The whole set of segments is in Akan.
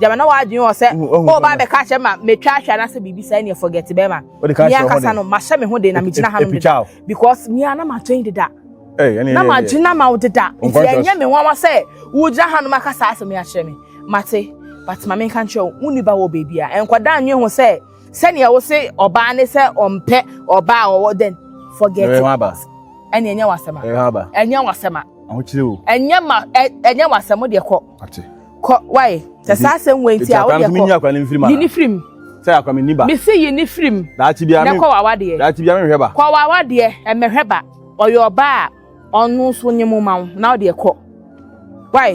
gyama na w'adwene wɔ sɛ ɔba abɛka akyerɛ ma metwa ahwɛ anaasɛ biribi saa ɛneɛ forget bɛrima me ankasa no mahyɛ me ho de na megyina hanom deda because me a na matwɛn deda na magyina ma wo deda nti ɛnyɛ me nwanwa sɛ wogyina hanom aka saa asɛm yi akyerɛ me mate but ma menka nkyerɛ wo wo nniba wɔ baabi a ɛnkɔda nwe ho sɛ sɛnea wo se ɔbaa ne sɛ ɔmpɛ ɔbaa ɔwɔ then forget it ɛne ɛnyɛ wasɛm a ɛnyɛ wasɛm a ɛnyɛ ma ɛnyɛ wasɛm deɛ kɔ ate kɔ wae sɛ saa asɛm wɔ nti a wodeɛ kɔ yi ne firim sɛ akwa menni ba mese yi ne firim na kɔ wawa deɛ daakye bia menhwɛ ba kɔ wawa deɛ ɛmɛhwɛ ba ɔyɛ ɔba a ɔno nso nye mo ma wo na wodeɛ kɔ wae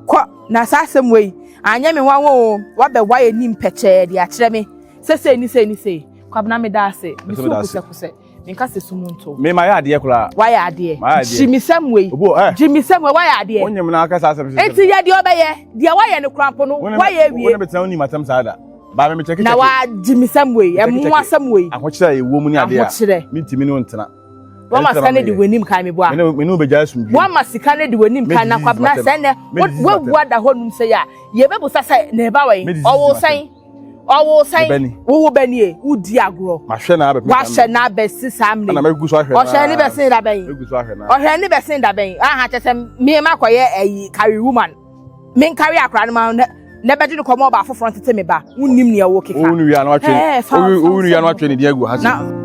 kɔ na saa asɛm wei anyɛ me nwanwa o wabɛwa yɛ nim pɛkyɛɛ de akyerɛ me sɛ sei ne sei ne sei kwabena meda ase mesu kusɛkusɛ Menka sɛ sum nto. Me mayɛ adeɛ koraa. Wayɛ adeɛ. Mayɛ adeɛ. Gyimisɛm wei. Obo ɛ. Eh. Gyimisɛm wei wayɛ adeɛ. Wonye mu na aka saa asɛm sisi. Eti yɛ deɛ ɔbɛyɛ. Deɛ wayɛ no kora mpo no wayɛ awie. Wone betena wonim asɛm saa da. Baa me mekyɛke kyɛke. Na wa gyimisɛm wei. Ɛmu asɛm wei. Ahokyerɛ a ɛwɔ mu ne adeɛ a. Ahokyerɛ. Mentimi ne wo ntena. Wama sika ne de w'anim kan me boa. Me ne wo bɛgya asum bio. Wama sika ne de w'anim kan na kwabena sɛ nɛ wabua da hɔ num sɛ yɛ a yɛbɛbusa sɛ na ɛba wɔ yi ɔwɔ sɛn. ɔwo sɛn wowo bɛ nie wodi agorɔ wahyɛ na abɛsi saa mmerɛ ɔhyɛ ne bɛsen da bɛn ɔhyɛ ne bɛsen da bɛn aha kyɛ sɛ mmeema kɔyɛ ɛyi carry woman men carry akora no ma na bɛgye ne kɔmɔ ɔba afoforɔ ntete me ba wonnim nea ɛwɔ keka wonu wia no atwe ne din agu ha na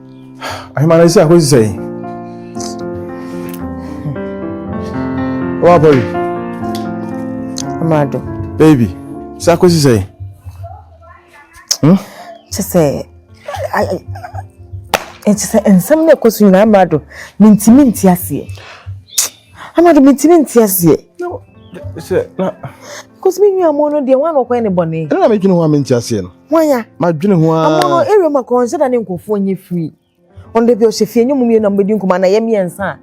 ahemane sɛ akɔsi sɛn wabɔre amado baby sɛ akɔsi sɛn hmm? kyɛ sɛ ɛkyɛ sɛ nsɛm no ɛkɔ so nyinaa amado mentimi nti aseɛ amado mentimi nti aseɛ sɛ na Cause me nua mo no deɛ wɔn a na ɔkɔyɛ ne bɔne. Ɛna na medwene ho a mente aseɛ no. Hwan ya? Madwene ho ara. Amoa no area mu a kɔɔ nsɛ da ne nkurɔfoɔ nyɛ free. Ɔno da bi ɔhyɛ fie nyɛ mu mmienu na mobɛdi nkɔmɔ anayɛ mmiɛnsa a.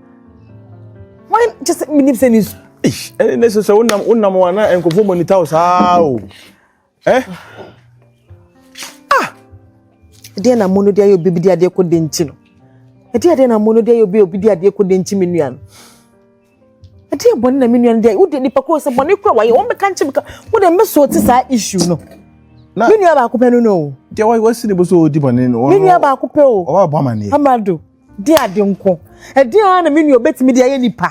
Hwan kyɛ sɛ menim sɛ ne su. Eish, ɛne ne sɛ sɛ wonam wonam wɔn na nkurɔfoɔ monitor wo saa o. Eh? Ah! Ɛdeɛ na mo no de ayɛ obi bi de adeɛ kɔ de nti no. Ɛdeɛ adeɛ na mo no de ayɛ obi obi de adeɛ kɔ de nti me nua no. ɛdeɛ bɔne na me nua no deɛ wodeɛ nipa koro sɛ bɔne kora wayɛ wɔn bɛka nkyɛn ka wo deɛ mɛ so te saa issue no na me nua baako pɛ no no o deɛ wa wasi ne bo so ɔdi bɔne no me nua baako pɛ o ɔba bɔ ama ne amado deɛ ade nko ɛdeɛ ara na me nua obɛtumi deɛ ayɛ nipa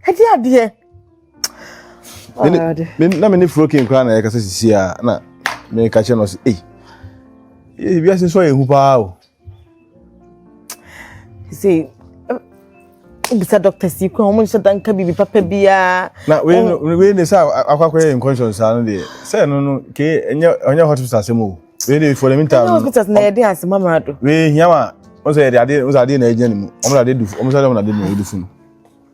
ɛdeɛ adeɛ na me ne frokin koraa na yɛkasa sisi a na meka kyerɛ no sɛ ei wiase nso ayɛ hu paa o See, bisa doctors yi kura wɔn nhyɛ da nka biribi papa biara. na wei no wei ne sɛ akwakɔyɛ nkɔnhyɛn saa no deɛ sɛ no no ke ɛnyɛ ɔnyɛ hospital asɛm o wei de for the meantime. ɛnyɛ hospital na yɛde ase mamara do. wei hia ma wɔn sɛ yɛde adeɛ wɔn sɛ adeɛ na ɛgyina ne mu wɔn sɛ adeɛ du wɔn sɛ adeɛ na ɛde mu ɛyɛ du funu.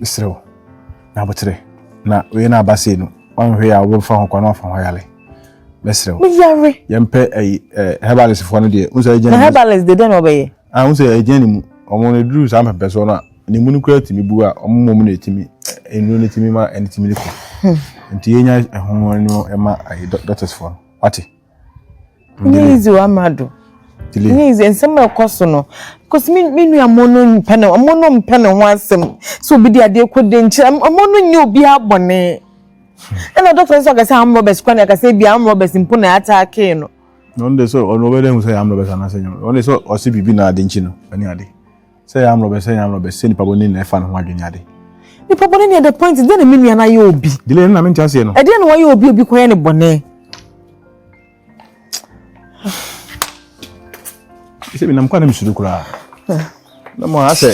mesrɛ wo na abokyerɛ na wei na aba sei no ɔnhwɛ yɛ a wobɛfa ho kwan na wafa ho ayale mɛsrɛ wo meyare yɛmpɛ ayi eh, herbalist foɔ no deɛ wo sɛ ɛgyina ne mu herbalist de dɛn na ɔbɛyɛ ah wo sɛ ɛgyina ne mu ɔmo no duru saa mpɛmpɛ soɔ no a ne mu no kura tumi bu a ɔmo mmɔ mu na ɛtumi nnuro no tumi ma ɛne tumi no kɔ hmm. nti yɛnya ɛho no ɛma ayi doctors foɔ no wate Nye yidzi wɔ ama do. Nye yidzi nsɛm a ɔkɔ so no. Cause me me nua mo no mmpɛ no ɔmo no mmpɛ no ho asɛm. Sɛ obi de adeɛ kɔ de nkyɛ ɔmo no nyɛ obiara bɔne. Ɛna doctor no nso ɔka sɛ armed robbers kora na ɛka sɛ ebi armed robbers mpo na ataake no. Ɔno de sɛ ɔno ɔbɛyɛ dɛ ehu sɛ ɛyɛ armed robbers anaasɛ ɛnyɛ armed robbers. Ɔno de sɛ ɔse biribi na ade nkyi no ɛne ade. sɛ yɛ amlɔbɛ sɛ yɛ amlɔbɛ sɛ nipa bɔne na ɛfa ne ho adwene ade nipa bɔne ne ɛdɛ point dɛ na me nua no ayɛ obi dile no na mente aseɛ no ɛdeɛ na wayɛ obi obi kɔyɛ ne bɔne sɛ menam kwa na mesuro koraa na mo a sɛ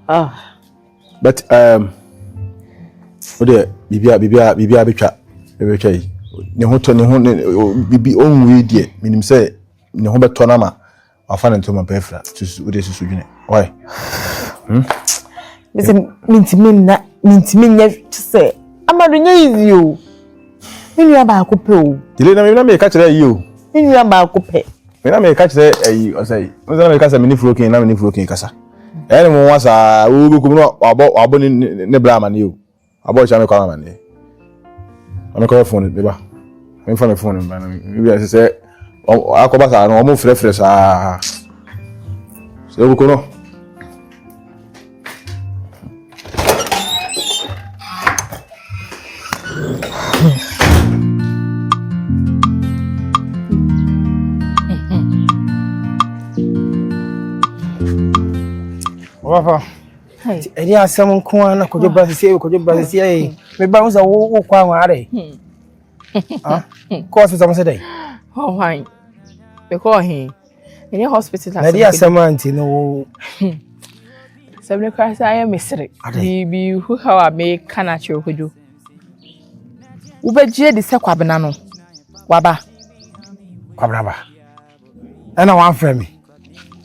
ah. but um, wodeɛ biribia biribia biribia bɛtwa bɛtwa yi ne ho tɔ ne ho ne bibi ɔnwui deɛ menim sɛ ne ho bɛtɔ no ama Wafa ne ntoma pa afira. Susu wode susu dwene. Why? Hmm? Mese mentimi nna mentimi nyɛ te sɛ amado nyɛ easy o. Me nua baako pɛ o. Dile na me na me ka kyerɛ yi o. Me nua baako pɛ. Me na me ka kyerɛ ayi ɔsɛ yi. Me na me ka sɛ me ne furo kin na me ne furo kin kasa. Ɛyɛ ne mo nwa saa wo bɛ kum no wabɔ wabɔ ne ne bra ama ne o. Abɔ kyɛ mekɔ ama ne. Amekɔ yɛ phone ne ba. Memfa me phone mba no. Bi a sɛ akɔba saa no ɔmo frɛfrɛ saa. Sɛ wokɔ no. Wafa. Hey. Ɛdi asɛm nko ara na kɔdwo ba sisi ɛyɛ kɔdwo ba sisi ɛyɛ me ba wusa wo wo kɔ awon ara yi. Ah, kɔ hospital mo sɛ dɛ. Hɔ hwan? Me kɔ ɔhen. Ɛnyɛ hospital asɛm. Ɛdi asɛm anti no wo. Sɛ me kora sɛ ayɛ me sere. Biribi hu ha wa me ka na kyerɛ kɔdwo. Wobɛgye di sɛ kwabena no waba. Kwabena ba. ɛna wamfrɛ me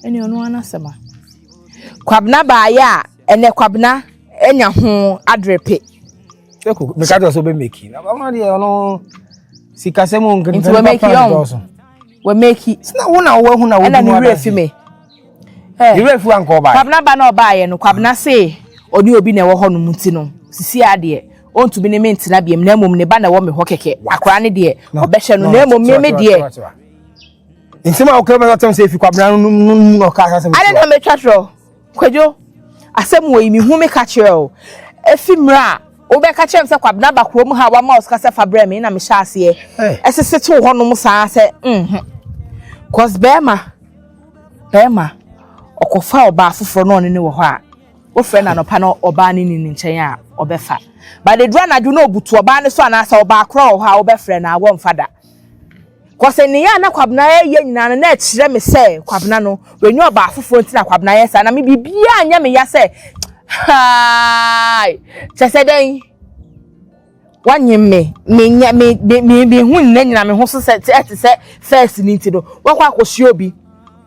ɛne ɔno ara n'asɛm a kwabena baayɛ a ɛnɛ kwabena anya ho adrepe ɛko meka kyerɛ sɛ wobɛmɛki ɔno deɛ ɔno sikasɛm nti wamɛki ɔn wamɛki sina wo na woahu na woduma ɛna ne werɛ fi me ne werɛ fi wankɔ ɔbaeɛ kwabena ba na ɔbaeɛ no kwabena se ɔne obi na ɛwɔ hɔ no mu ti no sisi adeɛ ɔntumi ne me ntena biam na mmom ne ba na ɛwɔ me hɔ kɛkɛ akora ne deɛ ɔbɛhyɛ no na mmom me me deɛ nsɛm a ɔka bɛ ɔtɛm sɛ efi kwabena no mu mu na ɔka asɛm ade na metwa kyerɛ kwadwo asɛm wɔ yi mehu me ka kyerɛ o efi mmerɛ a wobɛka kyerɛ m sɛ kwabena ba kurom ha wama ɔsika sɛ fa brɛ me na mehyɛ aseɛ ɛsese tew hɔnom saa sɛ nho cause bɛrima bɛrima ɔkɔfa ɔbaa foforɔ na ɔne ne wɔ hɔ a wofrɛ no anɔpa na ɔbaa ne ni ne nkyɛn a ɔbɛfa badeduru anadwo na ɔbutu ɔbaa ne so anaasɛ ɔbaa korɔ wɔ hɔ a wobɛfrɛ no a wɔmfa da Kɔse neyɛ a na Kwabena yɛ nyinaa no na ɛkyerɛ me sɛ Kwabena no wanya ɔbaa foforɔ nti na Kwabena yɛ saa na me biribiara nyɛ me ya sɛ haai kyɛ sɛ dɛn wanyem me me nya me me me me ho nyina nyina me ho so sɛ ɛte sɛ first ni nti no wakɔ akɔhyia obi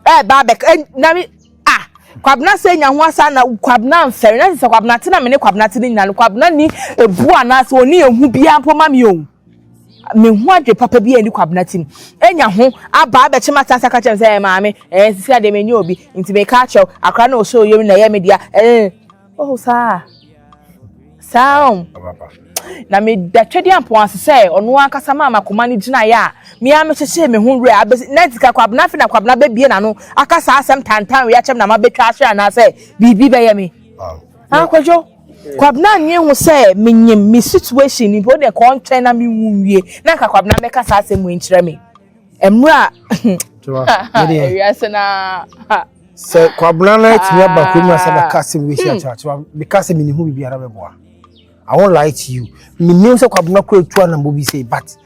ɛɛba abɛk na me ah Kwabena sɛ nya ho asa na Kwabena mfɛre na sɛ Kwabena te na me ne Kwabena te ne nyina no Kwabena ni ebu anaasɛ ɔne ehu biara mpo ma me o mehu adwe papa bi a ɛni kwabena ti mu anya ho aba abɛkye ma sansa ka kyerɛ me sɛ ɛyɛ maame ɛɛ sisi adeɛ menyɛ obi nti meka akyerɛ wo akora na ɔsɛ oyam na ɛyɛ me dea ɛɛ oh saa saa ɔm na meda twɛdeɛ ampɔn ase sɛ ɔno ankasa maa makoma no gyinaeɛ a mea mehyehyee me ho werɛ abɛsi na ntika kwabena afe na kwabena bɛbie n'ano aka saa asɛm tantan wei akyɛm na mabɛtwa ahwe anaasɛ biribi bɛyɛ me akwadwo Kwabena nye ho sɛ menyim me situation no mpo wode kɔ ɔntwɛn na me wu nwie na nka Kwabena bɛka saa asɛm wei nkyerɛ me mmerɛ a wiase no a sɛ Kwabena no atumi aba kurom na sɛ bɛka asɛm wei si akyerɛ akyerɛ meka sɛ mene ho biribiara bɛboa I won't lie to you menim sɛ Kwabena kɔ atu anambɔ bi sei but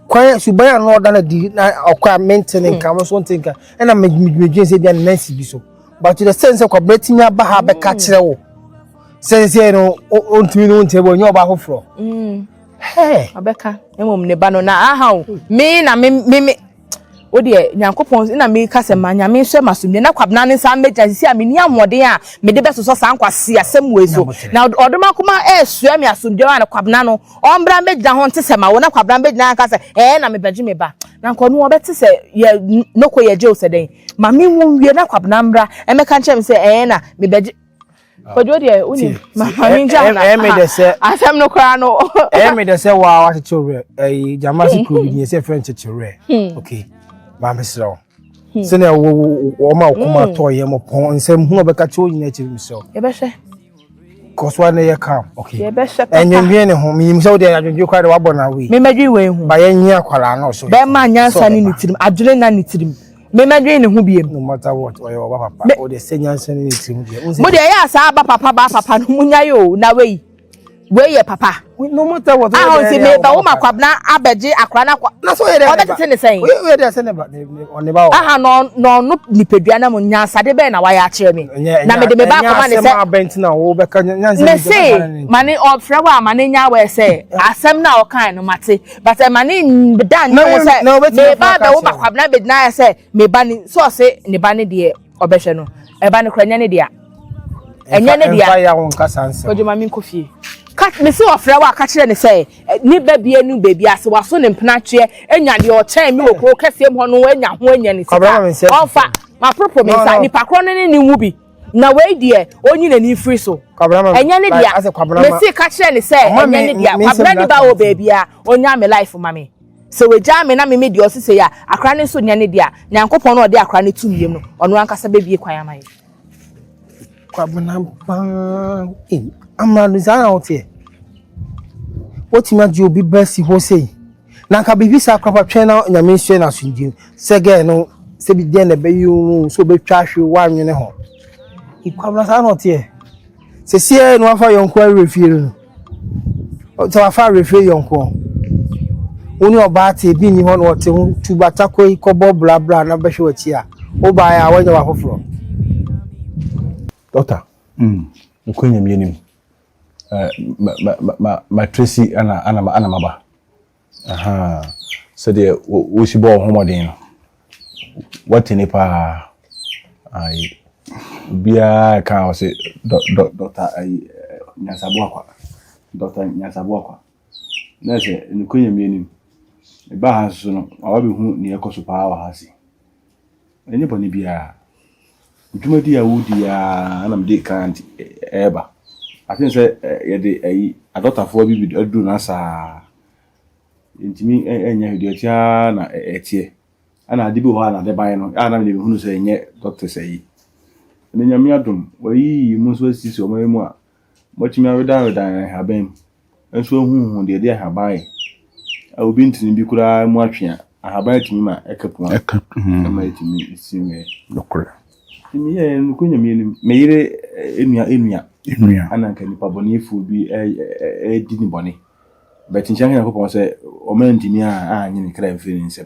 kwan suban a na ɔda no adi na ɔkɔ a mente ne nka mo so nte nka ɛna medwendwen sɛ bia ne nansi bi so but to the sense sɛ kwabena tumi aba ha bɛka kyerɛ wo sɛnsɛ no ɔntumi no nkyerɛ bɔ nyɛ ɔba foforɔ ɔbɛka mmom ne ba no na aha o me na me me wo deɛ nyankopɔn na meka sɛ ma nyame nhyɛ ma somdwe na kwabena ne nsa mmɛgya sisi a menni ahoɔden a mede bɛsosɔ saa nkwasi asɛm wei so na ɔdom akoma ɛresua me asomdwe a na kwabena no ɔmbra mbɛgyina ho nte sɛ ma wo na kwabena mbɛgyina nka sɛ ɛɛ na mebɛgye me ba na nka ɔno ɔbɛte sɛ yɛ noko yɛ gye wo sɛ dɛn ma me wo nwie na kwabena mbra ɛmɛka nkyɛn me sɛ ɛɛ na mebɛgye Ojo deɛ wonim maame gya na ɛmi de sɛ asɛm no koraa no ɛmi de sɛ waa wakyekyere werɛ ɛyi gyama si kuro bi deɛ sɛ fɛn kyekyere werɛ hmm. ok maame serɛ wo hmm. sɛnɛ wo wɔn a wɔkɔma hmm. tɔɔ yɛ mo pɔn nsɛm hu ɔbɛka kyɛ wɔn nyinaa akyiri mi serɛ wo. yɛbɛhyɛ. kɔsɔ ne yɛ kam ok yɛbɛhyɛ papa ɛnyɛnwɛn ne ho miyim sɛ o deɛ adwendwe kora de wabɔ na awi. mímɛdwi wei ho. ba yɛn nyɛ akwaraa n'ɔsoro. bɛɛ ma nyansa ne ne tirim adwene na ne tirim. Memmɛdwene ne ho biem. No matter what, ɔyɛ ɔba papa. O deɛ sɛ nyansa ne ne tirim deɛ. Mo deɛ ɛyɛ asaa aba papa ba papa no mo nyae o na wei wei yɛ papa. No matter what. Ahɔ nti me ba wo ma kwabena abɛgye akora na kwa. Na so yɛ dɛ. Ɔbɛ tete ne sɛn. Oye oye dɛ sɛ ne ba ne ba o. Aha no no no nipadua na mo nyansade bɛn na wayɛ akyerɛ me. Na me de me ba akoma ne sɛ. Ɛnyɛ asɛm abɛnti na wo bɛka nyansa ne sɛ. Me se ma ne ɔfrɛ wa ma ne nya wɛ sɛ asɛm na ɔkan no mate. But ɛma ne da ne ho sɛ ne ba bɛwo ba kwabena bɛgyina ayɛ sɛ ne ba ne so ɔse ne ba ne deɛ ɔbɛhwɛ no ɛba no kora ɛnyɛ ne dea ɛnyɛ ne dea ɔdwuma me nkɔ fie mesi ɔfrɛ wɔ aka kyerɛ ne sɛ ne ba bie no baabi ase waso ne mpena atweɛ anya deɛ ɔkyɛn me wɔ kuro kɛseɛ mu hɔ no anya ho anya ne sika ɔmfa maporoporo me nsa nipa korɔ no ne ne mu bi Na wei deɛ, ɔnyi n'ani mfiri so. Ɛnyɛ ne dea. Mese ka kyerɛ no sɛ ɛnyɛ ne dea. Kwabena ni ba wɔ baabiara, ɔnyaa me life ma me. Sɛ wagyaa me na me me deɛ ɔse sei a, akora no nso nyɛ ne dea. Nyankopɔn no a ɔde akora no to me yam no, ɔno ankasa bɛbue kwan ama yɛn. Kwabena bang. Ei, amrado saa na woteɛ? Wotumi agye obi ba si hɔ sei? Na anka biribi saa koraa fa twɛn na Nyame nhyɛ no asomdwie mu. Sɛ girl no sɛ bi deɛ na ɛbɛyɛ wo no sɛ ɔbɛtwa ahwe woanwene ho. Kwabena saa na ɔteɛ. Sɛsiɛ na wafa yɔnko awerɛ fie no. Sɛ wafa awerɛ fie yɔnko. Wo ne ɔbaa te bi nni hɔ na ɔte ho tu batako yi kɔbɔ blabla na bɛhwɛ w'akyi a. Wobaeɛ a woanya w'afoforɔ. Doctor, mm, nokura nyamie nim, ma Tracy ana ana ana maba aha sɛdeɛ wosi bɔ ɔho mɔden no wate ne paa ayi obiara ka ɔse dɔ dɔ dɔkta ayi nyasabo akwa dɔkta nyasabo akwa na sɛ nkonya mmienu ɛbaa ha nso no awa bi hu nea ɛkɔ so paa wɔ ha se Ɛnyɛ bɔne biara. Dwumadi a wodi yi ara na mede kan nti ɛreba. I think sɛ yɛde ayi adɔtafoɔ bi bi aduru no asaa. Ntumi ɛnyɛ hwee deɛ ɛte ara na ɛteɛ. Ɛna ade bi wɔ hɔ a na ade ban no a na mede hunu sɛ ɛnyɛ doctors ayi. Ɛna nyame adom wɔayi mu nso asisi wɔn mu a Wɔatumi awedanwedan nhaban mu nso ahuhu deɛ ɛde nhaban ayɛ. A Obi ntini bi koraa mu atwe a, nhaban atumi ma ɛka pua Ɛka mm, ɛma ɛtumi si mmɛ. nokorɛ. Nti meyɛɛ nokɔ nyame anim. Me yere eh, enua enua Nnua. ana nka nipa bɔnefoɔ bi eh, eh, eh, di ne bɔne. Bɛkyekyɛ nka Nyankopɔn sɛ ɔma ntini a anyene kra mfiri ne nsam.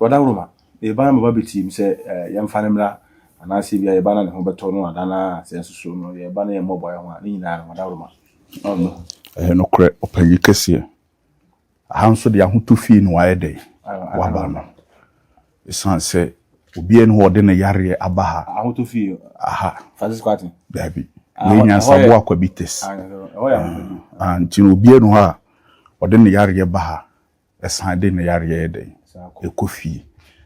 Wada woro ma ne ba ama wabɛtie mu sɛ yɛmfa no mmra, anaasɛ ebia yɛn ba na ne ho bɛtɔ no ada no ara a, sɛ nso so no yɛn ba no yɛ mmɔbɔ ayɛ ho a, ne nyinaa no, wada woro ma. Amen. Ɛyɛ nokorɛ, ɔpanyin kɛseɛ. Aha nso deɛ ahotɔ fie na wayɛ dɛn? Waba no. Ɛsiane sɛ obiara ni hɔ a ɔde ne yareɛ aba ha. Ahotɔ fie. Aha. Francis Kwarteng. Daabi. Ah, Wei hɔ- nyansabo hɔ yɛ- akwabi test. Ah, ɛhɔ yɛ ahotɔ fie. Ah, nti no obiara ni hɔ a ɔde ne yareɛ ba ha. ɛsan de ne yareɛ yɛ dɛn ɛkɔ fie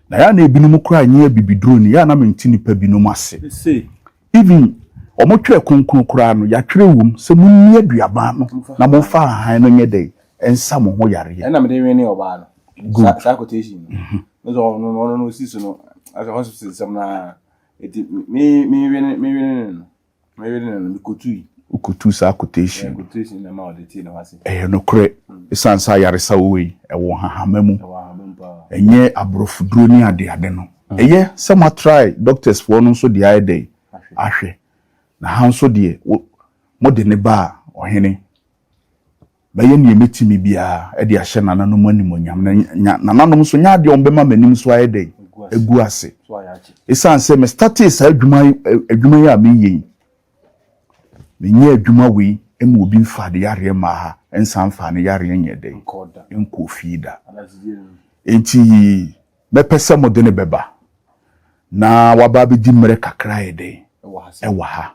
na yɛ na ebinom koraa nyɛ abibiduro ni yɛ na mente nipa binom ase even wɔn twerɛ kronkron koraa no yɛatwerɛ wom sɛ mo nni aduaba no na mo fa ahan no nyɛ dɛn ɛnsa mo ho yareɛ ɛna mede wene ɔbaa no good saa quotation no mhm. no sɛ ɔno no ɔno no osi so no asɛ hospital sɛm na ɛti me me wene me wene no Wokotuu saa quotation no. Ɛyɛ nokorɛ. Esiane sɛ ayaresa wɔ yi, ɛwɔ nhahama mu. Ɛnyɛ aborɔfoduro ne adeade no. Ɛyɛ sɛ mo atrae doctors foɔ no nso de ayɛ dɛn? Ahwɛ. Na ha nso deɛ, wo, mode no baa ɔhene. Mɛyɛ nea metumi biara de ahyɛ nananom animuonyam, na nya nananom nso nya adeɛ a wɔbɛma m'anim so ayɛ dɛn? Agu ase. Ɛsiane sɛ mestatee saa adwuma, adwuma yi a meyɛ yi, menyɛ adwuma wei ma obi mfa de yareɛ mmaa ha, nsan mfa ne yareɛ nyɛ dɛn? Nkɔɔ fie da. Enti mɛpɛ sɛ mode no bɛba na waba abɛdi mmerɛ kakra ayɛ dɛn? Ɛwɔ ha.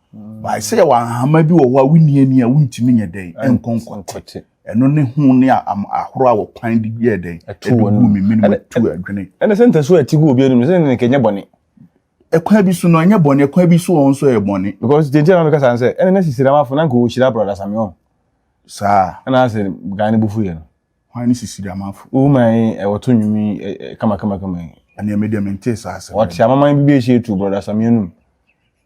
Bae sɛ yɛwɔ ahama bi wɔ hɔ a wonni ani a wontumi nyɛ dɛn nkɔ nkɔte. Ɛno ne ho ne ahoro a wɔpan de yɛ dɛn ɛtu wɔn mu mimini mu tu adwene. Ɛne sɛ ntasu a ɛte gu obi anim sɛ ne nka ɛnyɛ bɔne. Ɛkwan bi so no ɛnyɛ bɔne, ɛkwan bi so wɔn nso ɛyɛ bɔne. Because gyenti na mekasa sɛ ɛne na sisi ramafo na nka wɔhyira brɔda Samuel. Saa. Ɛna asɛ guy no bufu yɛ no. Hwan ne sisi ramafo? Woman yi ɛwɔ to nnwom yi kama kama kama yi. Ɛne ɛmɛ deɛ mente saa asɛm. Wɔte amaman bi bi ɛhyɛ tu brɔda Samuel no mu.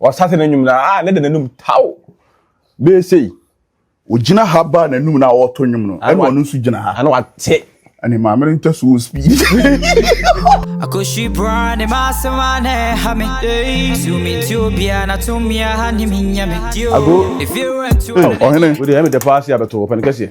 Ɔsase n'anim na a ne de n'anum taw bɛyɛ sei. Ogyina ha ba n'anum na ɔreto nnwom no ɛna ɔno nso gyina ha. Ɛna wate. Ɛne maame no ntɛ so speed. Akoshi bra ne masema na ɛha me. Tumi nti obia na tumi aha ne me nya me. Ago. Ɔhene. Wode ɛmi dɛpɔ ase abɛto ɔpɛn kɛseɛ.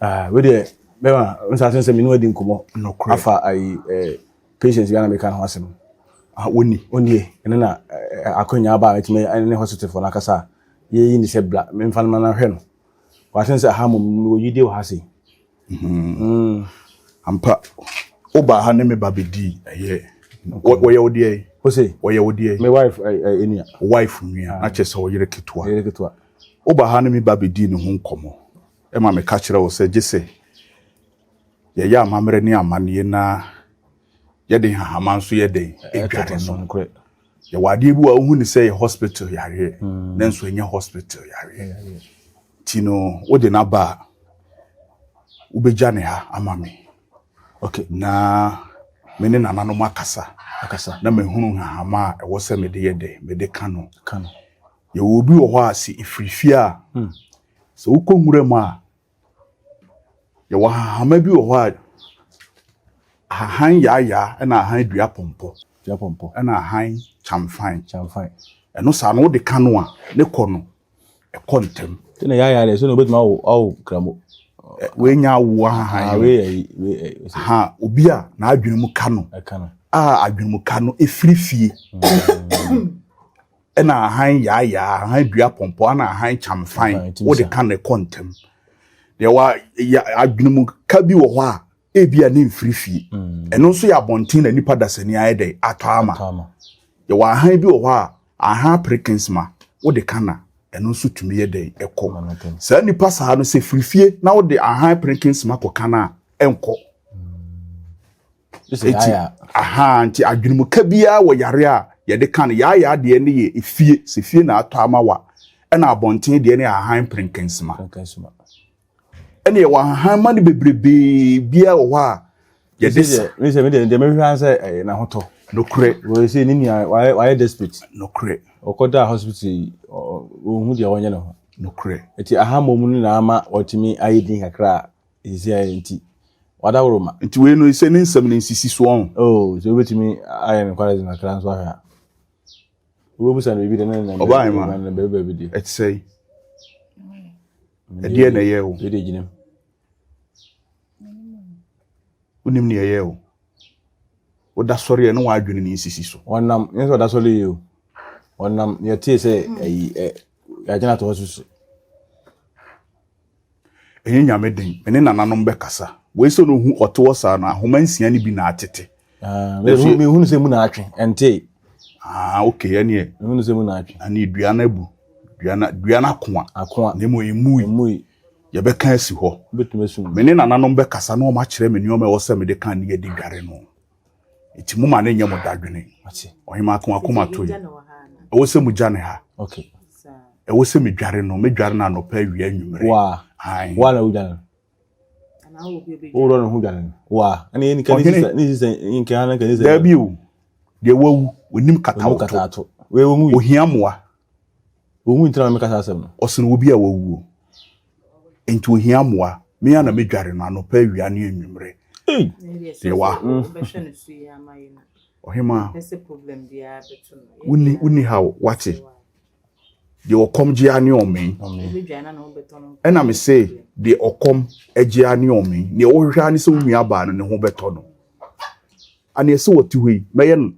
Ah, wei deɛ bɛma nsa ase sɛ mene wadi nkɔmmɔ afa ayi eh, patients bi a na meka ne ho asɛm ah, wɔni ɔnie ɛno na eh, eh, akwanya aba a mɛtumi ne hospitalfoɔ no akasa a yɛyi ne sɛ bla memfa no ma no ahwɛ no wɔasen sɛ aha mmom mewɔ yidie wɔ ha sei mhm. mm. ampa wobaa ha ne meba bɛdii ɛyɛ wɔyɛ wo deɛ ose wɔyɛ wo deɛ me wife ɛnua eh, wife nua na kyɛ sɛ ɔyere ketewa Woba ha ne me ba bedii ne ho nkɔmmɔ ma meka kyerɛɛ wo sɛ gye sɛ yɛyɛ amammerɛ ne amanneɛ na yɛde nhahama nso yɛ dɛn? Dware no. Yɛwɔ adeɛ bi wɔ a wohu ne sɛ yɛ hospital yareɛ hmm. nanso ɛnyɛ hospital yareɛ. Nti no wode no aba a wobɛgya ne ha ama me. Okay. Na me ne nananom akasa. Akasa. Na mahunu nhahama a ɛwɔ sɛ mede yɛ dɛn mede ka no. Ka no. Yɛwɔ obi wɔ hɔ a sɛ ɛfiri fie a, sɛ wokɔ nwura mu a, yɛwɔ ahahama bi wɔ hɔ a ahahan yaayaa ɛna ahan dua pɔmpɔ dua pɔmpɔ ɛna ahan kyamfan kyamfan ɛno saa no wode ka no a ne kɔ no ɛkɔ ntɛm sɛ na yaayaa deɛ sɛ na wobɛtumi awo awo kramo wɔanya awo ahahan ha obi a n'adwene mu ka no a adwene mu ka no ɛfiri fie ɛna ahan yaayaa ahan dua pɔmpɔ ana ahan kyamfan wode ka ne kɔ ntɛm deɛ wa adwene mu ka bi wɔ hɔ a ebi a ne mfiri fie mm. ɛno nso yɛ abɔnten na nipa dasani ayɛ dɛ atɔ ama yɛ wɔ ahan bi wɔ hɔ a ahan perkins ma wode ka na ɛno nso tumi yɛ dɛ ɛkɔ saa nipa saa no sɛ firi fie na wode ahan perkins ma kɔ ka na ɛnkɔ. Mm. eti aha nti adwenemuka biara wɔ yare a yɛde ka no yaayaa deɛ ne yɛ efie sɛ fie na atɔ ama wa ɛna abɔnten deɛ ne ahahan perenkɛnsima ɛna yɛwɔ ahahan ma no bebrebee biara wɔ hɔ a yɛde sa. mi sɛ mi deɛ deɛ mehwɛ an sɛ ɛyɛ n'ahotɔ. nokorɛ. wɔyɛ sɛ ne nua wayɛ wayɛ desperate. nokorɛ. ɔkɔ da hospital yi ɔhu deɛ ɔnyɛ ne ho. nokorɛ. eti aha mmom no na ama ɔtumi ayɛ din kakra a. Nsia yɛ nti. Wadaworo ma. Nti wei no sɛ ne nsɛm no nsisi soɔ ho. Oh, sɛ wobɛtumi ayɛ no kwara gyina kra nso ahwɛ a. Wobɛbusa no biribi de ne nnɛ mbɛ. Ɔbaa ma. Nnɛ mbɛ baabi de. Ɛte sɛ yi. Ɛdeɛ na ɛyɛ o. Ɛdeɛ gyina mu. Wonim ne ɛyɛ o. Woda sɔre yɛ ne wɔn adwene ne nsisi so. Wɔnam, nyɛ sɛ ɔda sɔre yɛ o. Wɔnam, yɛtee sɛ ɛyi, ɛ, yɛagyina to hɔ susu. ɛnyɛ nyame den me ne nananom bɛkasa wei sɛ na ohu ɔte hɔ saa no ahoma nsia no bi na atete ah, mehunu sɛ mu na atwe ɛntee ah ok ɛneɛ mehunu sɛ mu na atwe ɛne dua no abu dua no dua no akoa akoa na mmom ɛmui ɛmui yɛbɛka asi hɔ me ne nananom bɛkasa na wɔn akyerɛ me nneɛma ɛwɔ sɛ mede ka ne yɛde dware no nti mo ma ne nyɛ mo dadwene ɔhema ko akoma to yi ɛwɔ sɛ mo gya ne ha ɛwɔ sɛ me dware no me dware no anɔpa awia anwummere wa wa na wodwane wowurɔ ne ho dwane wa ɛne yɛnika ne sisɛ nkaa na nkaa ne sɛ daabi o deɛ wawu onim katawto ohia mmoa Wɔwu nti na meka saa asɛm no. Ɔsene obi a wawuo. Nti ohia mmoa. Me a na medware no anɔpa awia ne anwummere. Deɛ wa. Ɔhemaa. Wonni wonni ha o, wate. Deɛ ɔkɔm gye ara ne ɔmee. Ɛna me se deɛ ɔkɔm gye ara ne ɔmee. Deɛ wohwehwɛ ara ne sɛ wo nuabaa no ne ho bɛtɔ no. A nea ɛsɛ ɔte hɔ yi, mɛyɛ no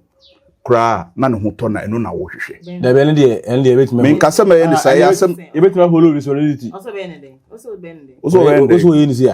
koraa a, na ne ho tɔ na ɛno na wohwehwɛ. Dabi, ɛno deɛ, ɛno deɛ ɛbɛtumi. Menka sɛ mɛyɛ ne saa, ɛyɛ asɛm. Ɛbɛtumi aholo ne solidity. Ɔsɛ ɔbɛyɛ ne dɛn? Ɔsɛ ɔbɛyɛ ne dɛn? Ɔsɛ ɔbɛyɛ ne dɛn? Ɔsɛ ɔyɛ ne si a.